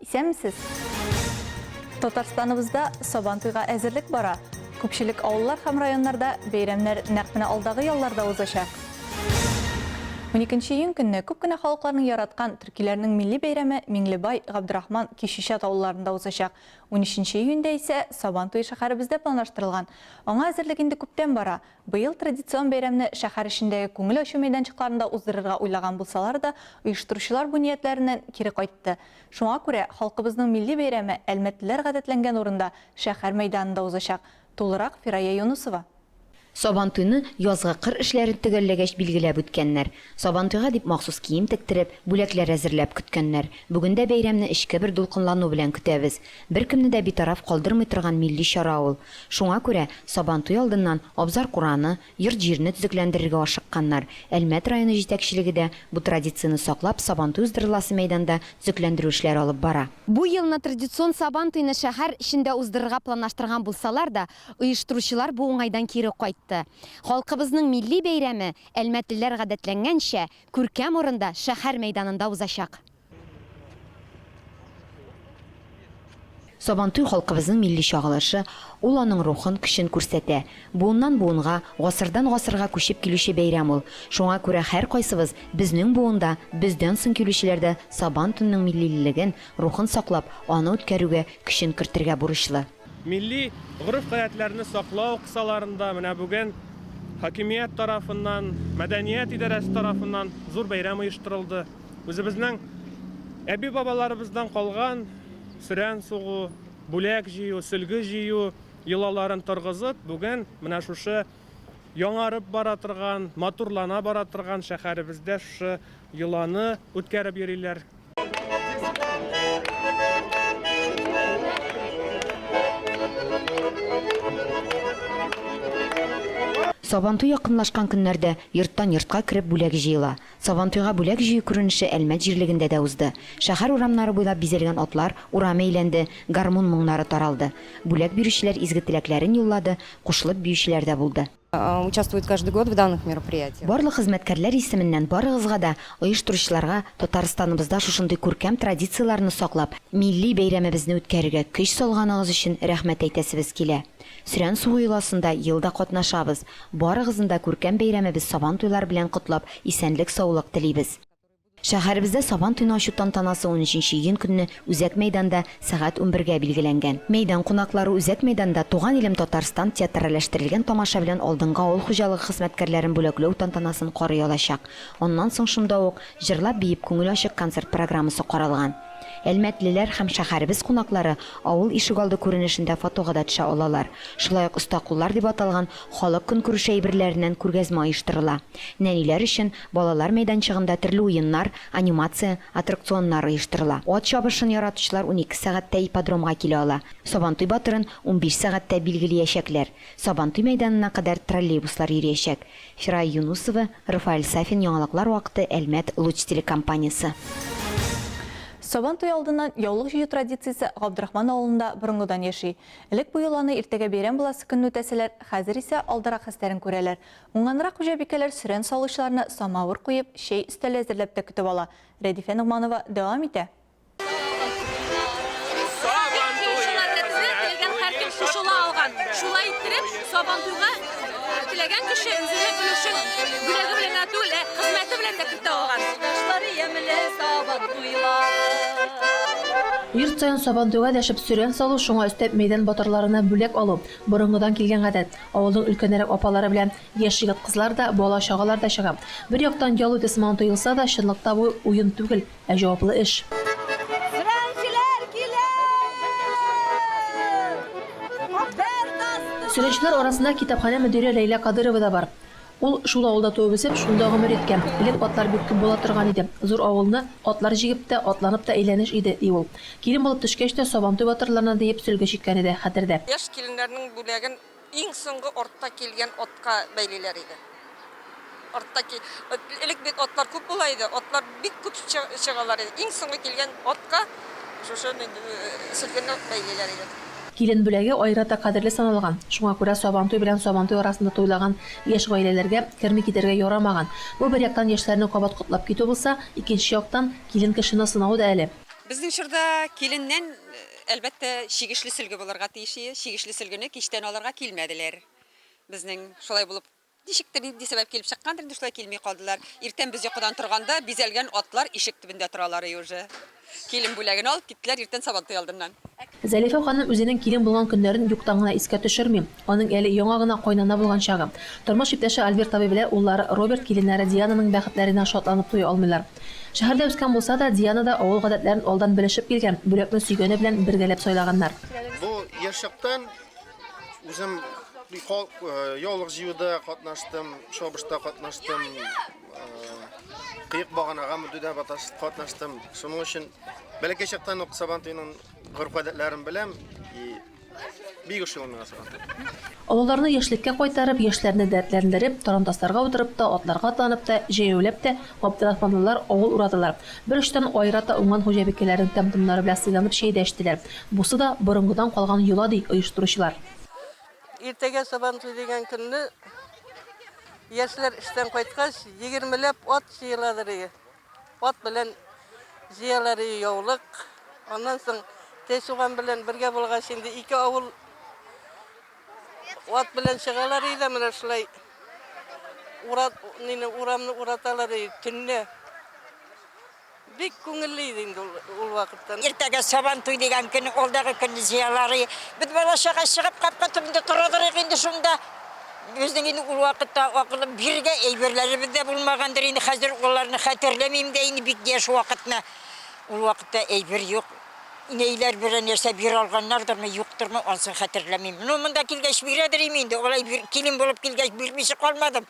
Исәнмесез! Татарстаныбызда Сабантуйга әзерлек бара. Күпчелек авыллар һәм районнарда бәйрәмнәр нәкъ менә алдагы ялларда узачак. Уникенче июнь көнне күп кенә халыкларның яраткан төркиләрнең милли бәйрәме Миңлебай, Габдрахман, Кишичат авылларында узачак. Унөченче июньдә исә Сабантуе шәһәребездә планлаштырылган. Аңа әзерлек инде күптән бара. Быел традицион бәйрәмне шәһәр эчендәге күңел ачу мәйданчыкларында уздырырга уйлаган булсалар да, оештыручылар бу ниятләреннән кире кайтты. Шуңа күрә халкыбызның милли бәйрәме әлмәтлеләр гадәтләнгән урында, шәһәр мәйданында узачак. Тулырак, Фирая Юнысова. Сабантуйны язгы кыр эшләрен төгәлләгәч билгеләп үткәннәр. Сабантуйга дип махсус кием тектереп, бүләкләр әзерләп көткәннәр. Бүген дә бәйрәмне эчке бер дулкынлану белән көтәбез. Беркемне дә битараф калдырмый торган милли чара ул. Шуңа күрә Сабантуй алдыннан абзар-кураны, йорт-җирне төзекләндерергә ашыкканнар. Әлмәт районы җитәкчелеге дә, бу традицияне саклап, Сабантуй уздырыласы мәйданда төзекләндерү эшләре алып бара. Бу елны традицион Сабантуйны шәһәр эчендә уздырырга планлаштырган булсалар да, оештыручылар бу уңайдан кире кайтты. Халкыбызның милли бәйрәме, әлмәтлеләр гадәтләнгәнчә, күркәм урында, шәһәр мәйданында узачак. Сабантуй халкыбызның милли чагылышы, ул аның рухын, көчен күрсәтә. Буыннан буынга, гасырдан гасырга күчеп килүче бәйрәм ул. Шуңа күрә һәркайсыбыз, безнең буын да, бездән соң килүчеләр дә Сабан тунның миллилелеген, рухын саклап, аны үткәрүгә, көчен кертергә бурычлы. Милли гореф-гадәтләрне саклау кысаларында менә бүген хакимият тарафыннан, мәдәният идарәсе тарафыннан зур бәйрәм оештырылды. Үзебезнең әби-бабаларыбыздан калган сөрән сугу, бүләк җыю, сөлге җыю йолаларын торгызып, бүген менә шушы яңарып бара торган, матурлана бара торган шәһәребездә шушы йоланы үткәреп йөриләр. Сабантуй якынлашкан көннәрдә йорттан-йортка кереп бүләк җыела. Сабантуйга бүләк җыю күренеше Әлмәт җирлегендә дә узды. Шәһәр урамнары буйлап бизәлгән атлар урам әйләнде, гармун моңнары таралды. Бүләк бирүчеләр изге теләкләрен юллады, кушылып биючеләр дә булды. участвуют каждый год в данных мероприятиях. Барлык хезмәткәрләр исеменнән барыгызга да, оештыручыларга, Татарстаныбызда шушындый күркәм традицияләрне саклап, милли бәйрәмебезне үткәрергә көч салганыгыз өчен рәхмәт әйтәсебез килә. Сөрән суы йоласында ел да катнашабыз. Барыгызны да күркәм бәйрәмебез Сабантуйлар белән котлап, исәнлек-саулык телибез. Шәһәребездә Сабан туен ачу тантанасы унөченче июнь көнне Үзәк мәйданда сәгать унбергә билгеләнгән. Мәйдан кунаклары Үзәк мәйданда Туган илем Татарстан театральләштерелгән тамаша белән алдынгы авыл хуҗалыгы хезмәткәрләрен бүләкләү тантанасын карый алачак. Аннан соң шунда ук Җырлап-биеп күңел ачык концерт программасы каралган. Әлмәтлеләр һәм шәһәребез кунаклары авыл ишегалды күренешендә фотога да төшә алалар. Шулай ук Оста куллар дип аталган халык көнкүреше әйберләреннән күргәзмә оештырыла. Нәниләр өчен Балалар мәйданчыгында төрле уеннар, анимация, аттракционнар оештырыла. Ат чабышын яратучылар унике сәгатьтә ипподромга килә ала. Сабантуй батырын унбиш сәгатьтә билгелиячәкләр. Сабантуй мәйданына кадәр троллейбуслар йөриячәк. Фирая Юнусова, Рафаэль Сафин Яңалыклар вакыты Әлмәт Луч телекомпаниясе. Сабантуй алдыннан яулык җыю традициясе Габдрахман авылында борынгыдан яши. Элек бу йоланы иртәгә бәйрәм буласы көнне үтәсәләр, хәзер исә алдарак хәстәрен күрәләр. Уңганрак хуҗабикәләр сөрән салучыларны самавыр куеп, чәй өстәле әзерләп тә көтеп ала. Рәдифә Ногманова дәвам итә. Сабантуйга теләгән һәркем кушыла алган. Шулай иттереп, Сабантуйга теләгән кеше үзенең өлешен бүләге белән генә түгел, ә хезмәте белән дә кертә алган. Кояшлар ямьле Сабантуйлар. Йорт саен Сабантуйга дәшеп сөрән салу, шуңа өстәп мәйдан батырларына бүләк алу, Борынгыдан килгән гадәт. Авылның өлкәнрәк апалары белән яшь егет-кызлар да, бала-чагалар да чыга. Бер яктан ял үтә сыман тоелса да, чынлыкта бу, уен түгел, ә җаваплы эш. Сөрәнчеләр килә! Бер тасты. Сөрәнчеләр арасында китапханә мөдире Ләйлә Кадыйрова да бар. Ул шул авылда туып-үсеп, шунда гомер иткән. Элек атлар бик күп була торган иде. Зур авылны атлар җигеп тә, атланып та әйләнеш иде, ди ул. Килен булып төшкәч тә, Сабантуй батырларына диеп сөлге чиккән иде, хәтердә. Яшь киленнәрнең бүләген иң соңгы артта килгән атка бәйлиләр иде. Артта ки, элек бит атлар күп була иде, атлар. Бик күп чыгалар иде. Иң соңгы килгән атка шушы сөлгене бәйлиләр иде. Килен бүләге аерата кадерле саналган. Шуңа күрә Сабантуй белән Сабантуй арасында туйлаган яшь гаиләләргә керми китәргә ярамаган. Бу бер яктан яшьләрне кабат котлап китү булса, икенче яктан, килен кешене сынау да әле. Безнең чорда киленнән, әлбәттә, чигешле сөлге булырга тиеш иде. Чигешле сөлгене кичтән алырга килмәделәр. Безнең шулай булып Ничектер, нинди сәбәп килеп чыккандыр инде, шулай килми калдылар. Иртән без йокыдан торганда, бизәлгән атлар ишек төбендә торалар и уже. Килен бүләген алып киттеләр иртән Сабантуй алдыннан. Зәлифә ханым үзенең килен булган көннәрен юктан гына искә төшерми. Аның әле яңа гына кайнана булган чагы. Тормыш иптәше Альберт абый белә уллары Роберт киленнәре Диананың бәхетләренә шатланып туя алмыйлар. Шәһәрдә үскән булса да, Диана да авыл гадәтләрен алдан белешеп килгән, бүләкне сөйгәне белән бергәләп сайлаганнар. Бу ешыктан. Үзем халык э, яулык җыюда катнаштым, шабышта катнаштым, э, кыек баганага мөддә катнаштым. Шуның өчен бәләкәй чактан ук Сабантуйның горф-гадәтләрен беләм и бик ошый миңа Сабантуй. Авылларны яшьлеккә кайтарып, яшьләрне дәртләндереп, тарантасларга утырып та, атларга атланып та, җәяүләп тә габдрахманлылар авыл урадылар. Бер очтан аерата уңган хуҗабикәләрнең тәм-томнары белән сыйланып чәй дә эчтеләр. Бусы да борынгыдан калган йола, ди оештыручылар. Иртәгә Сабантуй дигән көнне яшьләр эштән кайткач, егермеләп ат җыеладыр ие. Ат белән җыялар ие яулык. Аннан соң Тәчуган белән бергә булгач, инде ике авыл ат белән чыгалар ие дә менә шулай урамны ураталар ие төнлә. Бик күңелле иде инде ул вакытта. Иртәгә Сабантуй дигән көн, ул дагы көнне җыялар. Без бала-чага чыгып капка төбендә тора торыйк инде шунда. Безнең инде ул вакытта акылым биргә әйберләребез дә булмагандыр инде, хәзер аларны хәтерләмим дә инде бик яшь вакытны. Ул вакытта әйбер юк. Инәйләр берәр нәрсә бир алганнардырмы, юктырмы, ансын хәтерләмим. Ну, монда килгәч бирәдер инде, алай килен булып килгәч бирмичә калмадым.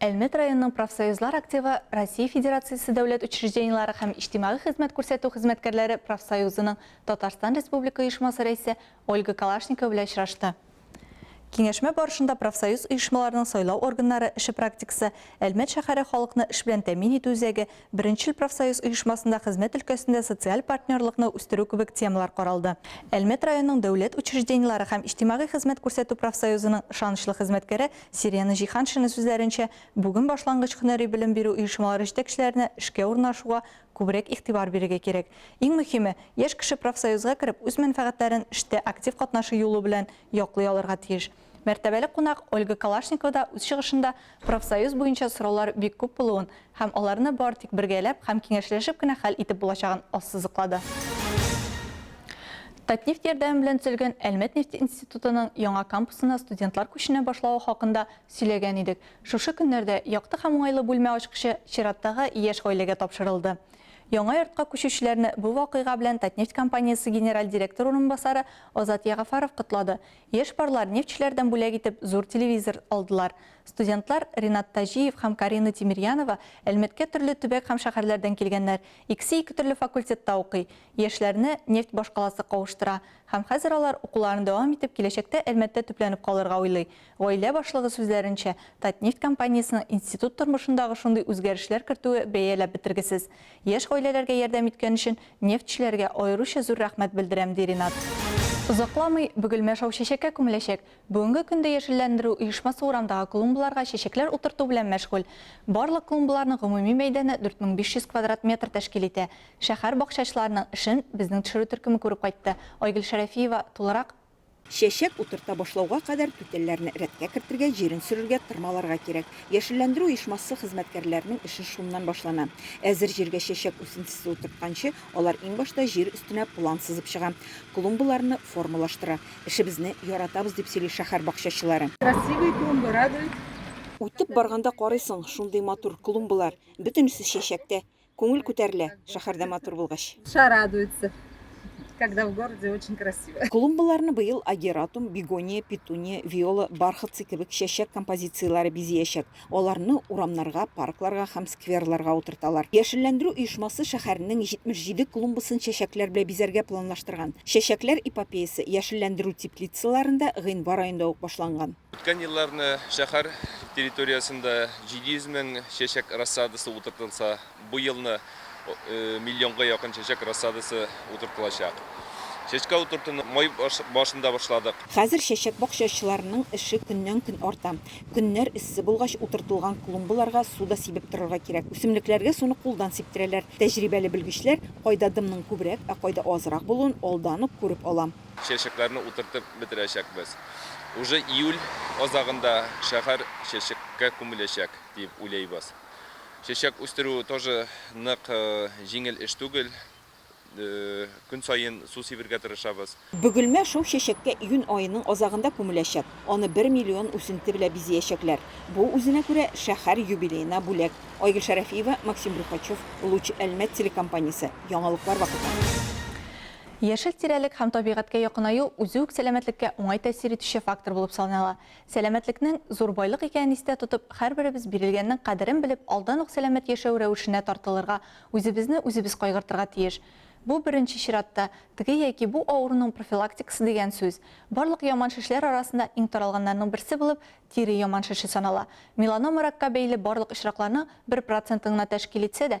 Әлмәт районының профсоюзлар активы Россия Федерациясе дәүләт учреждениеләре һәм иҗтимагый хезмәт күрсәтү хезмәткәрләре профсоюзының Татарстан Республика оешмасы рәисе Ольга Калашникова белән очрашты. Киңәшмә барышында профсоюз оешмаларының сайлау органнары эше практикасы, Әлмәт шәһәре халыкны эш белән тәэмин итү үзәге, Беренчел профсоюз оешмасында хезмәт өлкәсендә социаль партнерлыкны үстерү кебек темалар каралды. Әлмәт районының дәүләт учреждениеләре һәм иҗтимагый хезмәт күрсәтү профсоюзының ышанычлы хезмәткәре Сирена Җиһаншина сүзләренчә, бүген башлангыч һөнәри белем бирү оешмалары җитәкчеләренә эшкә урнашуга күбрәк игътибар бирергә кирәк. Иң мөһиме, яшь кеше профсоюзга кереп, үз мәнфәгатьләрен эштә актив катнашу юлы белән яклый алырга тиеш. Мәртәбәле кунак Ольга Калашникова да үз чыгышында профсоюз буенча сораулар бик күп булуын һәм аларны бары тик бергәләп һәм киңәшләшеп кенә хәл итеп булачагын ассызыклады. Татнефть ярдәме белән төзелгән Әлмәт нефте институтының яңа кампусына студентлар күченә башлавы хакында сөйләгән идек. Шушы көннәрдә якты һәм уңайлы бүлмә ачкычы чираттагы яшь гаиләгә тапшырылды. Яңа йортка күчүчеләрне бу вакыйга белән Татнефть компаниясе генераль директор урынбасары Азат Ягафаров котлады Яшь парлар нефтьчеләрдән бүләк итеп зур телевизор алдылар. Студентлар Ринат Таҗиев һәм Карина Тимирьянова Әлмәткә төрле төбәк һәм шәһәрләрдән килгәннәр, икесе ике төрле факультетта укый. Яшьләрне нефть башкаласы кавыштыра. Һәм хәзер алар укуларын дәвам итеп киләчәктә Әлмәттә төпләнеп калырга уйлый. Гаилә башлыгы сүзләренчә, Татнефть компаниясенең институт тормышындагы шундый үзгәрешләр кертүе бәяләп бетергесез. Яшь гаиләләргә ярдәм иткән өчен нефтьчеләргә аеруча зур рәхмәт белдерәм, ди Ринат. Озакламый Бөгелмә шау чәчәккә күмеләчәк. Бүгенге көндә яшелләндерү оешмасы урамдагы клумбаларга чәчәкләр утырту белән мәшгуль. Барлык клумбаларның гомуми мәйданы 4500 квадрат метр тәшкил итә. Шәһәр бакчачыларының эшен Безнең төшерү төркеме күреп кайтты. Айгөл Шәрәфиева тулырак. Чәчәк утырта башлауга кадәр түтәлләрне рәткә кертергә, җирен сөрергә, тырмаларга кирәк. Яшелләндерү оешмасы хезмәткәрләренең эше шуннан башлана. Әзер җиргә чәчәк үсентесе утыртканчы, алар иң башта җир өстенә план сызып чыга, клумбаларны формалаштыра. Эшебезне яратабыз, дип сөйли шәһәр бакчачылары. Красивые клумбы радуют. Үтеп барганда карыйсың, шундый матур клумбалар, бөтенесе чәчәктә. Күңел күтәрелә, шәһәрдә матур булгач. Душа радуется, когда в городе очень красиво. Клумбаларны быел агератум, бегония, петуния, виола, бархатцы кебек чәчәк композицияләре бизиячәк. Аларны урамнарга, паркларга һәм скверларга утырталар. Яшелләндерү оешмасы шәһәрнең 77 клумбасын чәчәкләр белән бизәргә планлаштырган. Чәчәкләр эпопеясе яшелләндерү теплицаларында гыйнвар аенда ук башланган. Үткән елларны шәһәр территориясендә 700 мең чәчәк рассадасы утыртылса, бу елны миллионга якын чәчәк рассадасы утыртылачак. Чәчкә утыртуны май башында башладык. Хәзер чәчәк бакчачыларының эше көннән-көн арта. Көннәр эссе булгач, утыртылган клумбаларга су да сибеп торырга кирәк. Үсемлекләргә суны кулдан сиптерәләр. Тәҗрибәле белгечләр кайда дымның күбрәк, ә кайда азрак булуын алдан ук күреп ала. Чәчәкләрне утыртып бетерәчәкбез. Уже июль азагында шәһәр чәчәккә күмеләчәк дип уйлыйбыз. Чәчәк үстерү тоже нык җиңел эш түгел. Көн саен су сибергә тырышабыз. Бөгелмә шоу чәчәккә июнь аеның азагында күмеләчәк. Аны бер миллион үсенте белә бизиячәкләр. Бу үзенә күрә шәһәр юбилеена бүләк. Айгөл Шәрәфиева, Максим Брюхачев, Луч Әлмәт телекомпаниясе, яңалыклар вакыты. Яшел тирәлек һәм табигатькә якынаю үзе үк сәламәтлеккә уңай тәэсир итүче фактор булып санала. Сәламәтлекнең, зур байлык икәнен истә тотып, һәрберебез бирелгәннең кадерен белеп, алдан ук сәламәт яшәү рәвешенә тартылырга, үзебезне үзебез кайгыртырга тиеш. Бу, беренче чиратта, теге яки бу авыруның профилактикасы дигән сүз. Барлык яман шешләр арасында иң таралганнарның берсе булып тире яман шеше санала. Меланома ракка бәйле барлык очракларның бер процентын гына тәшкил итсә дә,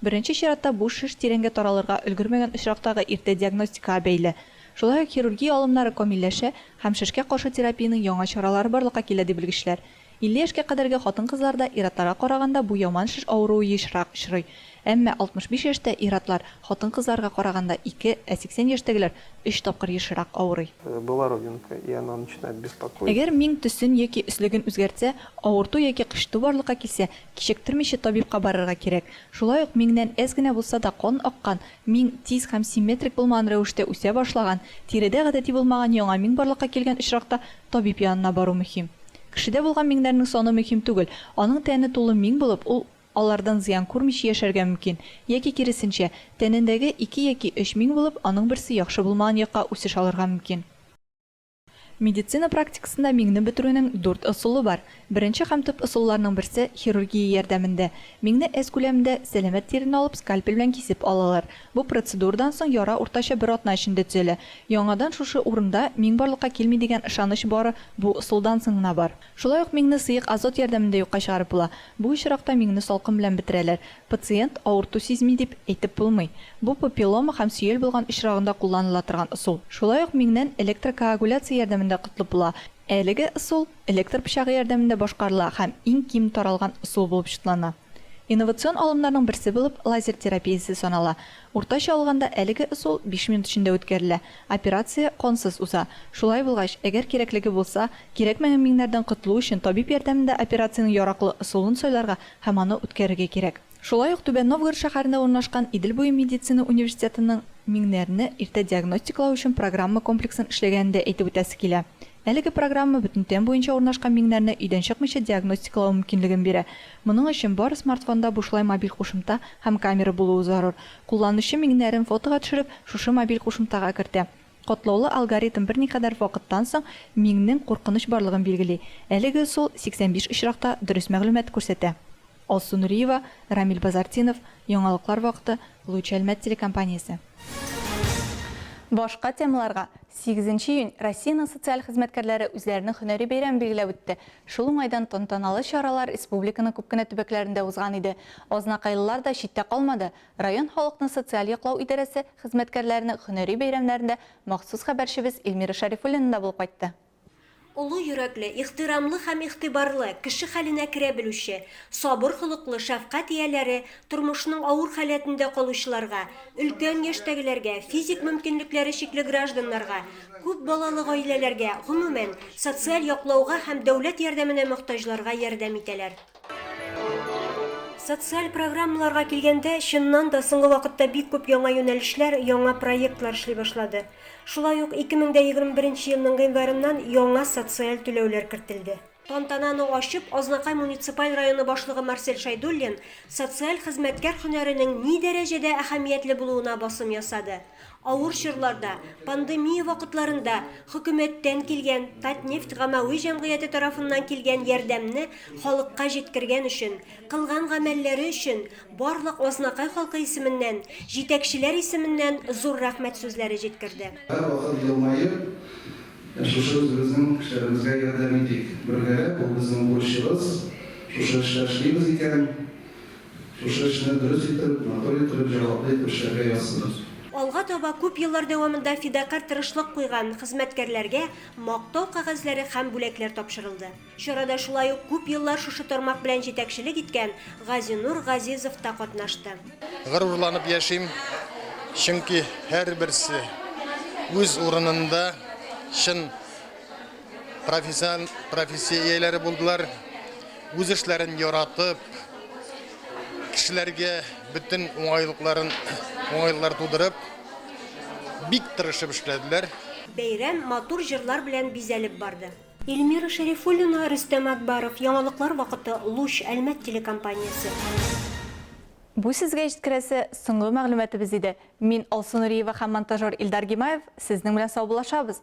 Беренче чиратта бу шеш тирәнгә таралырга өлгермәгән очрактагы иртә диагностикага бәйле. Шулай ук хирургия алымнары камилләшә һәм шешкә каршы терапиянең яңа чаралары барлыкка килә, ди белгечләр. 50 яшькә кадәрге хатын-кызларда ир-атларга караганда бу яман шеш авыруы ешрак очрый. Әмма 65 яшьтә ир-атлар хатын-кызларга караганда ике, ә 80 яшьтәгеләр өч тапкыр ешрак авырый. Была родинка, и она начинает беспокоить. Әгәр миң төсен яки өслеген үзгәртсә, авырту яки кычыту барлыкка килсә, Кичектермичә табибка барырга кирәк. Шулай ук миңнән әз генә булса да кан аккан, миң тиз һәм симметрик булмаган рәвештә үсә башлаган, тиредә гадәти булмаган яңа миң барлыкка килгән очракта табиб янына бару мөһим. Кешедә булган миңнәрнең саны мөһим түгел, аның тәне тулы миң булып, ул алардан зыян күрмичә яшәргә мөмкин, яки киресенчә, тәнендәге ике яки өч миң булып, аның берсе яхшы булмаган якка үсеш алырга мөмкин. Медицина практикасында миңне бетерүнең дүрт ысулы бар. Беренче һәм төп ысулларның берсе, хирургия ярдәмендә. Миңне S күләмендә, сәламәт тирен алып, скальпель белән кисеп алалар. Бу процедурадан соң яра уртача бер атна эчендә төзәлә. Яңадан шушы урында миң барлыкка килми дигән ышаныч бары бу ысулдан соң гына бар. Шулай ук миңне сыек азот ярдәмендә юкка чыгарып була. Бу очракта миңне салкын белән бетерәләр. Пациент авырту сизми дип әйтеп булмый. Бу папиллома һәм сөял булган очрагында кулланыла торган ысул. Шулай ук миңнән электрокоагуляция ярдәмендә котлып була. Әлеге ысул электр пычагы ярдәмендә башкарыла һәм иң ким таралган ысул булып чутлана. Инновацион алымнарның берсе булып лазер терапиясе санала. Уртача алганда әлеге ысул биш минут эчендә үткәрелә. Операция кансыз уза. Шулай булгач, әгәр кирәклеге булса, кирәкмәгән миңнәрдән котылу өчен табиб ярдәмендә операциянең яраклы ысулын сайларга һәм аны үткәрергә кирәк. Шулай ук Түбән Новгород шәһәрендә урнашкан Идел буе медицина университетының миңнәрне иртә диагностикалау өчен программа комплексын эшләгәнен дә әйтеп үтәсе килә. Әлеге программа бөтен тән буенча урнашкан миңнәрне өйдән чыкмыйча диагностикалау мөмкинлеген бирә. Моның өчен бары смартфонда бушлай мобиль кушымта һәм камера булуы зарур. Кулланучы миңнәрен фотога төшереп, шушы мобиль кушымтага кертә. Катлаулы алгоритм берникадәр вакыттан соң миңнең куркыныч барлыгын билгели. Әлеге ысул 85 очракта дөрес мәгълүмат күрсәтә. Алсу Нуриева, Рамил Базартдинов, Яңалыклар вакыты, Луч Әлмәт телекомпаниясе. Башка темаларга, Сигезенче июнь Россиянең социаль хезмәткәрләре үзләренең һөнәри бәйрәмен билгеләп үтте. Шул уңайдан тантаналы чаралар республиканың күп кенә төбәкләрендә узган иде. Азнакайлылар да читтә калмады, Район халыкны социаль яклау идарәсе хезмәткәрләренең һөнәри бәйрәмнәрендә махсус хәбәрчебез Эльмира Шәрифуллина да булып кайтты. Олы йөрәкле, ихтирамлы һәм игътибарлы, кеше хәленә керә белүче, сабыр холыклы шәфкать ияләре тормышның авыр халәтендә калучыларга, өлкән яшьтәгеләргә, физик мөмкинлекләре чикле гражданнарга, күп балалы гаиләләргә, гомумән, социаль яклауга һәм дәүләт ярдәменә мохтаҗларга ярдәм итәләр. Социаль программаларга килгәндә, чыннан да, соңгы вакытта бик күп яңа юнәлешләр, яңа проектлар эшли башлады. Шулай ук 2021 елның гыйнварыннан яңа социаль түләүләр кертелде. Тантананы ачып, Азнакай муниципаль районы башлыгы Марсель Шәйдуллин социаль хезмәткәр һөнәренең ни дәрәҗәдә әһәмиятле булуына басым ясады. Авыр чорларда, пандемия вакытларында хөкүмәттән килгән Татнефть гамәви җәмгыяте тарафыннан килгән ярдәмне халыкка җиткергән өчен, кылган гамәлләре өчен барлык Азнакай халкы исеменнән, җитәкчеләр исеменнән зур рәхмәт сүзләре җиткерде. Һәрвакыт елмаеп, шушы үзебезнең кешеләребезгә ярдәм итик. Бергәләп, ул безнең бурычыбыз. Шушы эшләр эшлибез икән, Шушы эшне дөрес итеп, матур итеп, җаваплы итеп эшләргә язсын. Алга таба күп еллар дәвамында фидакарь тырышлык куйган хезмәткәрләргә Мактау кәгазьләре һәм бүләкләр тапшырылды. Чарада шулай ук күп еллар шушы тармак белән җитәкчелек иткән Газинур Газизов та катнашты. Горурланып яшим, чөнки һәрберсе үз урынында чын. профессиональ профессия ияләре булдылар. Үз эшләрен яратып, кешеләргә бөтен уңайлыкларын уңайлар тудырып, бик тырышып эшләделәр. Бәйрәм матур җырлар белән бизәлеп барды. Эльмира Шәрифуллина, Рөстәм Акбаров, Яңалыклар вакыты, Луч, Әлмәт телекомпаниясе. Бу сезгә җиткерәсе соңгы мәгълүматыбыз иде. Мин Алсу Нуриева һәм монтажер Илдар Гимаев сезнең белән саубуллашабыз.